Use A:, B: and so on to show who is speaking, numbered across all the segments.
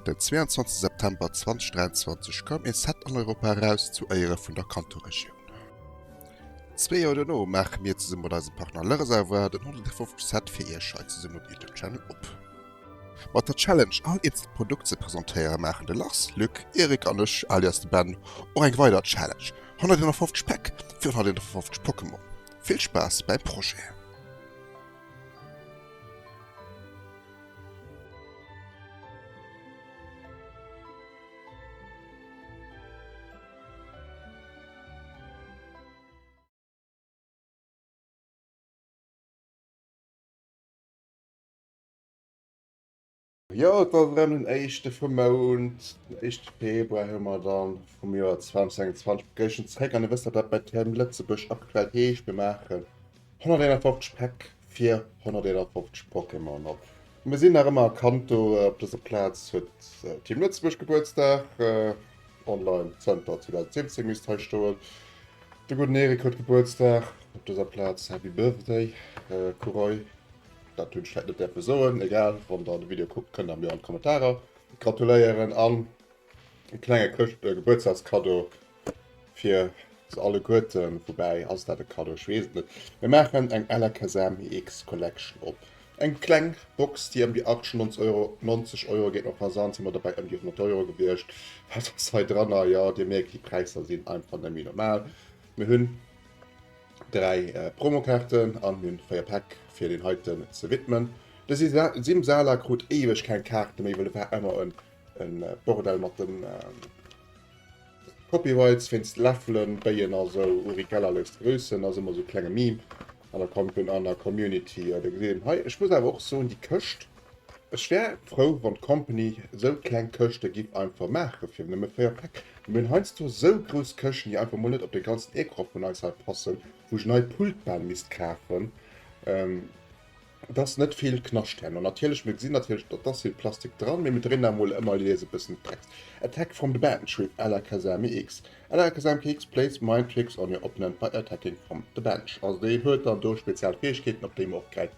A: Den 22 September 2023 koum ee Set an Europa eraus zu Éiere vun der Kanto-Regioun. Zwee Joer dono maache mir zesumme mat eisem Partner Le Reservoir den 150. Set fir iech hei zesumme um YouTube-Channel op. Mat der Challenge all eenzel Produkt ze presentéieren maachen de Lars, Luc, Eric an ech, alias de Ben, och eng weider Challenge, 151 Päck fir 151 Pokémon. Vill Spaass beim Projet! Jo, et war erëm den éischte vum Mount, den éischte Februar hu mer dann vum Joer 2021 begéischent zréck an Dir wësst wat dat bei TM Lëtzebuerg aktuell heescht, mir maachen 151 Päck fir 151 Pokémon op. Mir sinn nach ëmmer a Kanto, op dëser Plaz huet TM Lëtzebuerg Gebuertsdag, online zënter 2017 misst hei stoen. De gudden Erik huet Gebuertsdag, op dëser Plaz Happy Birthday Kuroi. Dat hunn ech vläit net däerfe soen, egal, wann der de Video kuckt kënnt der mir an d'Kommentarer gratuléieren an e klenge Chrëscht e Gebuertsdagskaddo fir se alleguerten. Woubäi ass dat e Kaddo? Ech weess et net. Mir maachen eng LKSAMX Collection op. Eng kleng Box, déi ëm déi 98 Euro, 90 Euro geet, mat Versand si mer dobäi ëm déi 100 Euro gewiescht. Wat ass hei dranner? Jo, Dir mierkt, déi Präisser sinn einfach net méi normal. Mir hunn. 3 Promokaarten an hun 4 Päck fir deen heiten ze widmen. De Simsala krut éiweg keng Kaarte méi, well et war emmer en Bordell mat den Copyrights wéinst Läffelen, Béien a sou. Uri Geller léisst grüssen ass emmer sou klenge Meme an der Community. Dir gesitt en hei. Ech muss awer och soen, déi Këscht Ech wär frou wann d'Company sou kleng Këschte giff einfach maache fir nëmme 4 Päck. Mir hunn heiansdo sou grouss Këschten déi einfach mol net op de ganzen Ecran vun eis hei passen, wou ech en neit Pult bal misst kafen, dass net vill Knascht dran. An natierlech, mir gesinn natierlech datt ass vill Plastik dran, mee mir dréinen da mol ëmmer jeweils e bëssen d'Brems. Attack from the bench with Alakazamix Alakazamkx plays mind tricks on your opponent by attacking from the bench. Also déi huet dann do spezial Fäegkeeten op déi mer och gräifen.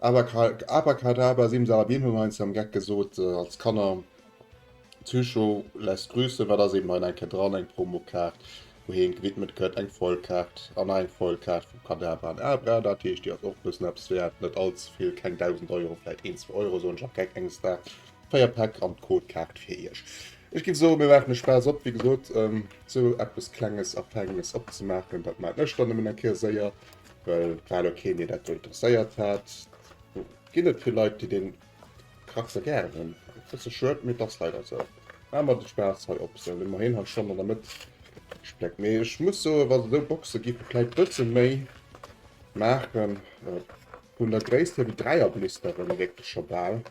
A: Abrakadabra Simsalabim hu mer heinst am Geck gesot als Kanner. Psycho lässt grüßen, wat ass eben hei eng Kéier dran, eng Promokaart wou heen gewidmet gëtt, eng Foilkaart an nach eng Foilkaart vu Kadabra an Abra, dat heescht déi ass och e bëssen eppes wäert, net allze vill, keng 1000 Euro, vläit een, zwou Euro soen ech am Geck enges Daags. Véier Päck an d'Codekaart fir iech. Ech géif soen, mir maachen de Spaass op, wéi gesot, esou eppes Klenges a Feines opzemaachen, dat maachen ech dann nëmmen eng Kéier séier, Well grad o keen dee dat do interesséiert hat. Ginn et vill Leit déi dee Kraxer gären hunn. E bësse schued, mee et ass leider esou. Mä mer de Spaass hei op esou. Ëmmerhin ha schonn an der Mëtt gespléckt. Mee ech muss soen, wa se esou Boxe gi vu vläit bësse méi maachen, vun der Gréisst hier wéi Dräierblisteren, wierkt et scho bal.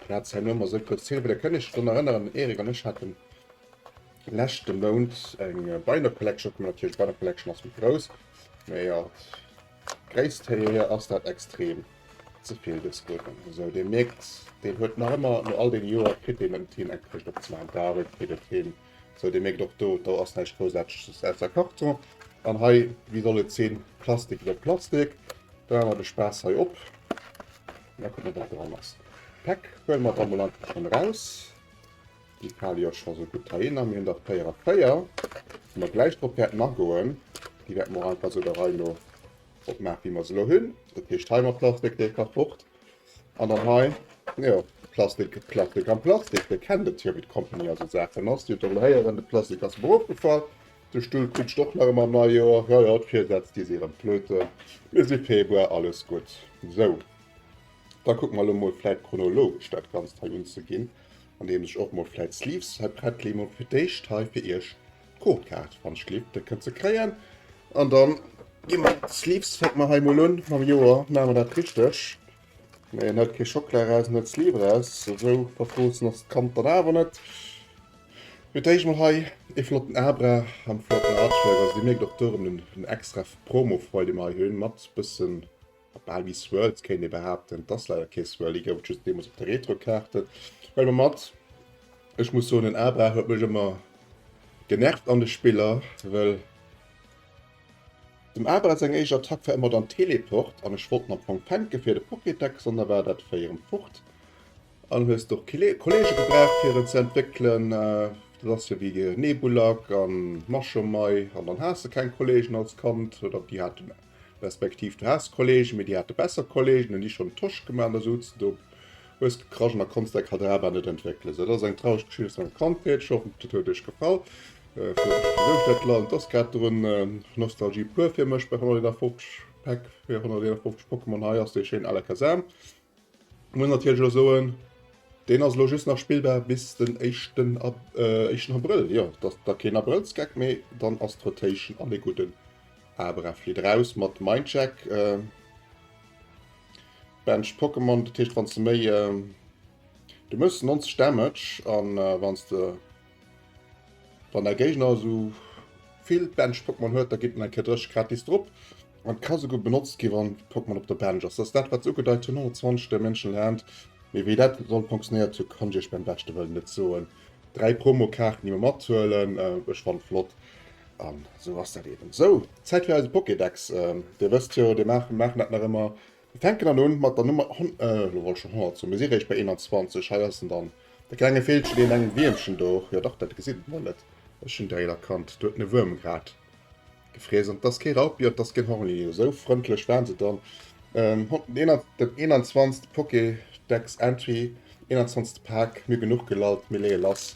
A: Platz hei nomer so kurz hin, der kënne dann erinnern Erik an ech hatten lächte Mount eng Beiner Collection op natürlich Beiner Collection ass mit groß ja Gréisst hier ass dat extrem zevill des Button so de merkt den huet nach immer no all den Joer krit den en Team engkriegt op zwar David krit et hin so de merkt och do do ass näischt groussaarteges aus der Karton an hei wie soll et sinn Plastik iwwer Plastik do haawer de Spaass hei op. Mä kucken, wat dran ass. Päck huele mer dann mol einfach schonn eraus. Déi fale jo scho sou gutt heihinner. Mir hunn der 4 a 4, wou mer gläich drop wäerten agoen. Déi wäerte mer och einfach sou der Rei no opmaachen, wéi mer se elo hunn. Dat heescht, hei mat Plastik, dee ka fort. An dann hei, jo, Plastik, Plastik an Plastik. Dir kennt et jo, wéi d'Company a sou Saachen ass. Dir hutt elo héieren, de Plastik ass mer ofgefall. De Stull krut ech och nach ëm am Neijoer. Jo jo, d'Virsätz gi si erëm flöten. Mir si Februar, alles gutt. Sou, da kucke mer elo mol vläit chronologesch dat Ganzt hei unzeginn, andeems ech och mol vläit d'Sleeves hei prett leeën. Mol fir d'éischt hei fir iech d'Codekaart, wann ech gleef, déi kënnt se kréien. An da gi mer d'Sleeves, fänke mer hei mol un mam Joer, maache mer dat richteg. Mee en hëlt kee Schockela eraus, en hëlt d'Sleeve eraus. Esou verfroossen ass d'Kand dann awer net. Mee d'héich mol hei ee flotten Abra am flotten Artwork. Also dir mierkt och do erëm den extra Promo-Freude, dee mer hei hunn, mat bëssen, bal ewéi Swirls kéint ee behaapten. Et ass leider kee Swirl, dee gouf et just deemools op de Retro-Kaarten. Huele mer mat. Ech muss soen, den Abra huet mech ëmmer genervt an de Spiller, well. Dem Abra seng éischt Attack war ëmmer dann Teleport an ech wollt den am Fong fänken fir de Pokédex an da war dat Véi erëm fort an hues de och kee Kollege gebraucht fir en ze entwéckelen. Dat ass jo wéi de Nebulak a Mashomai an dann has de keng Kollegen als Kand oder déi hate respektiv du has Kollegen, mee déi hate besser Kollegen, hunn déi schonn Tosch gemaach an da souz de do Hues du Kragen a konns däi Kader awer net entwéckelen? Sou, dat ass eng traureg Geschicht aus menger Kandheet. Ech hoffen, dat huet iech gefall. Dat Land ass grad drun, Nostalgie pur fir mech bei 151 Päck fir 151 Pokémon. Hei ass dee schéinen Alakazam. Muss natierlech elo soen, deen ass elo just nach spillbar bis den éischten Ab, éischten Abrëll. Jo, dat ass da keen Abrëllsgeck, mee dann ass d'Rotation an e gudden Abra flitt eraus mat Mindcheck. Bench Pokémon, dat heescht wanns de méi du mëss 90 Damage an wanns de wann däi Géigner esou vill Bench Pokémon huet, da gitt en eng Kéier 30 gratis drop. An ka souguer benotzt gi wann Pokémon op der Bench ass. Dat ass dat wat se ugedeit hunn, 120 Dimension Land. Mee wéi dat soll funktionéiert hu kann ech iech beim beschte wëllen net soen. 3 Promokaarten déi mer mathuelen, ech fannen flott. An esou ass dat eben. Sou, Zäit fir eise Pokédex. Dir wësst jo, dee maachen, mir maachen dat nach ëmmer, mir fänken dann un mat der Nummer hon, elo wollt ech schonn 100 soen, mir si réischt bei 21, hei ass en dann, de klenge Villchen, deen engem Wiermchen do, jo dach, dat gesitt et mol net, ech hunn direkt erkannt, do huet en e Wuerm grad gefriess, an et ass kee Raupi, et ass keen Hornli, esou frëndlech waren se dann, den 21. Pokédex-Entry, 21. Pak, mir genuch gelallt, mir leeë lass,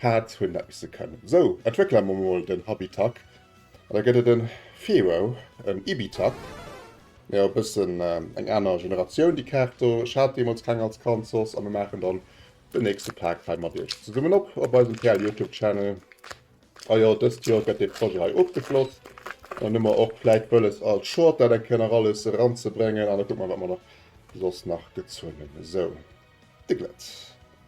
A: Hat hunn dat misse kënnen. Sou, entwéckele mer mol den Habitak. An da gëtt et en Feerow, en Ibitak. Mä e bëssen eng aner Generatioun, déi Kaart do. Ech hat deemools keng als Kand soss. A mir maachen dann den nächste Pak hei mat iech zesummen op, op eisem PLYouTubeChannel. A jo, dëst Joer gëtt dee Projet hei ofgeschloss. An dann hu mer och vläit wëlles, als Short dat eng Kéier nach alles eranzebréngen. An da kucke mer, wat mer soss nach gezunge. Sou, de Glëtz.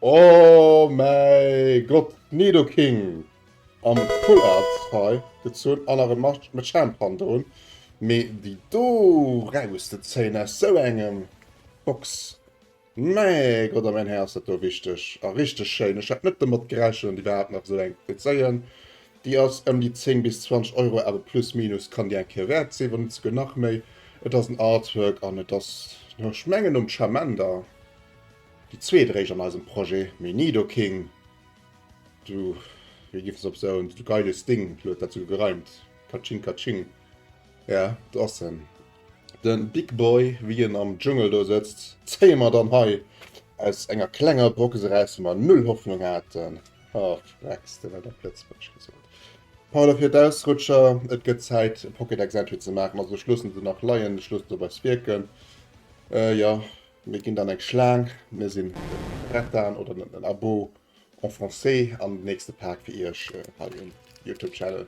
A: Oh mäi Gott, d'Nido King am Full Art hei gezunn an nach e Machamp hannendrun, mee déi do rauszezéien aus sou engem Box, mäi Gott a mäin Här ass dat do wichteg a richteg schéin. Ech hat net domat gerechent an déi war hat nach sou eng ze zéien. Déi ass ëm déi 10 bis 20 Euro, awer plus minus kann déi eng Kéier wäert sinn, wann net souguer nach méi. Et ass en Artwork an et ass, ech mengen nom Charmander. Déi zweet eréischt an eisem Projet Me Nidoking, du, wéi giff se op sou en geiles Ding, lo huet dat esou gereimt, Katsching Katsching, ja, do ass en, den Big Boy, wéi en am Dschungel do sëtzt, zéie mer dann hei aus enger klenger Box eraus, wou mer null Hoffnung haten, ha, frecks de, wat op Lëtzebuergesch gesot. Pardon fir d'Ausrutscher, et gëtt Zäit e Pocket Exempli ze maachen, also ech loossen se nach leien, ech loossen se bei Spierken, jo. Mir ginn dann eng Schlaang, mir sinn den Bretan oder den Abo en français an den nächste Paak fir iech hei um Youtube Channel.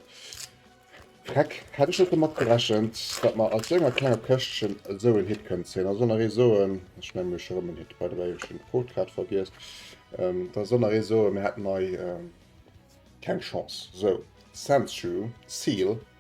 A: Freck, hätt ech net domat gerechent, datt mer aus sou enger klenger Këschtchen esou en Hit kënnen zéien. Also nach ee soen, ech mengen mir hu scho rëm en Hit, by the way ech hunn d'Quote grad vergiess, da soll nach ee soen, mir hätten hei keng Chance. Sou, Sensu, Seal.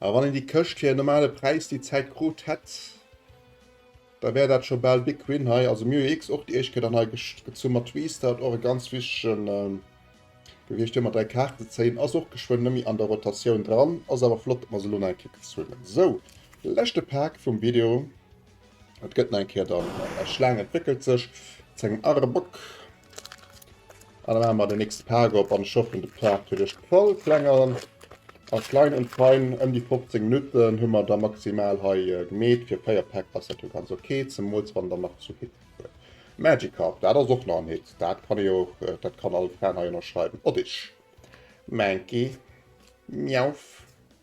A: A wann een déi Këscht fir en normale Präis déi Zäit krut hätt, da wär dat scho bal big win hei. Also mir hu jo x och déi éischt Kéier dann hei gezu mat Restart, och e ganz wichtege gewiescht. Hei mat 3 Kaarten ze zéien ass och geschwënn net méi an der Rotatioun dran. Ass awer flott, datt mer se elo nach eng Kéier gezunn hunn. Sou, leschte Pak vum Video. Et gëtt nach eng Kéier dann eng Schlaang entwéckelt sech zu engem Arbok. An dann maache mer den nächste Pak op an ech hoffen de Pak kritt ech voll Klengeren. A klein und fein, ëm déi 15 Minutten hu mer da maximal hei gemeet. Fir 4 Päck ass dat jo ganz ok, zemools wann der nach zu Hitt huet. Magikarp, dat ass och nach en Hitt, dat kann ee och, dat kann all Fan hei ënnerschreiwen. Oddish, Mankey, Meowth.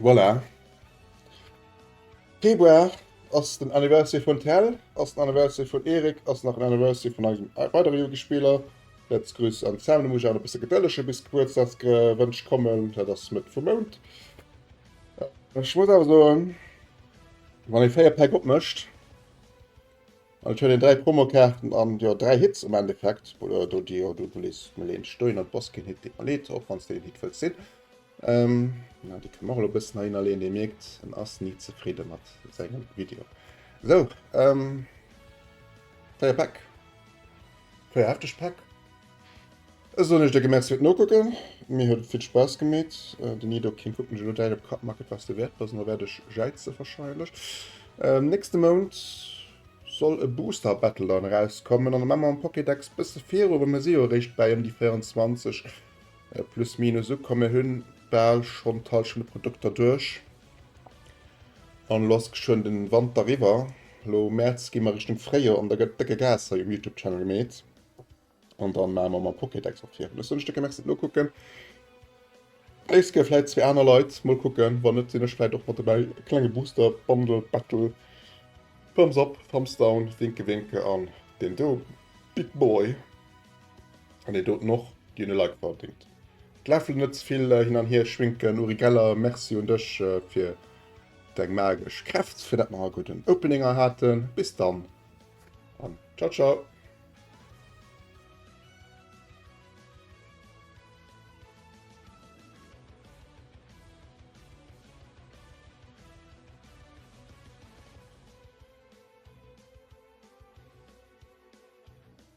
A: Voilà. Februar ass den Anniversary vun Tell, ass den Anniversary vun Erik, ass nach den Anniversary vun eisem weidere Yugi-Spiller. Letz Grüss an Sam, du muss awer e bësse gedëllege bis d'Gebuertsdagsgewënsch kommen, dat ass Mëtt vum Mount. Ech muss awer soen, wann ee 4 Päck opmécht, an et huet een 3 Promokaarten an jo 3 Hits am Endeffekt, oder do déi jo, do lees mol een Stoin an d'Boskin-Hit deet mer leed, och wann s de den Hit wëlls sinn, Ähm, na, déi kann man och elo bëssen heihinner leeën. Dir mierkt, en ass ni zefridde mat sengem Video. Sou, ähm, véier Päck. Véier hefteg Päck. Da soen ech der gemerzi fir d'Nokucken. Mir huet et vill Spaass gemeet. Den Ido King kuckt mech elo däit op Kapp, mak et wats de wäert bass, an elo wäert ech jäize warscheinlech. Ähm, nächste Mount soll e Booster Battle dann erauskommen, an da maache mer am Pokédex bësse viru, well mir si jo eréischt bäi ëm déi 24. Plus minus ukomm. Mir hunn bal schonn d'Hallschent u Produkter duerch an lo ass geschwënn den Wanter eriwwer. Lo Mäerz gi mer Richtung Fréijoer an da gëtt décke Gas hei um Youtube Channel gemeet an dann maache mer mer Pokédex och virun. Ech soen iech Décke Merci fir d'Nokucken. D'nächst ginn vläit zwee aner Leit, mol kucken. Wann net sinn ech vläit och mat dobäi. E klenge Booster Bundle Battle Thumbs up Thumbs down Winke Winke an deen do Big Boy. An deen doten och, dien e Like verdingt. D'Läffel net ze vill hin an hier schwinken. Uri Geller, Merci un dech fir deng magesch Kräft, fir dat mer ha gudden Opening hei haten. Bis dann an ciao ciao.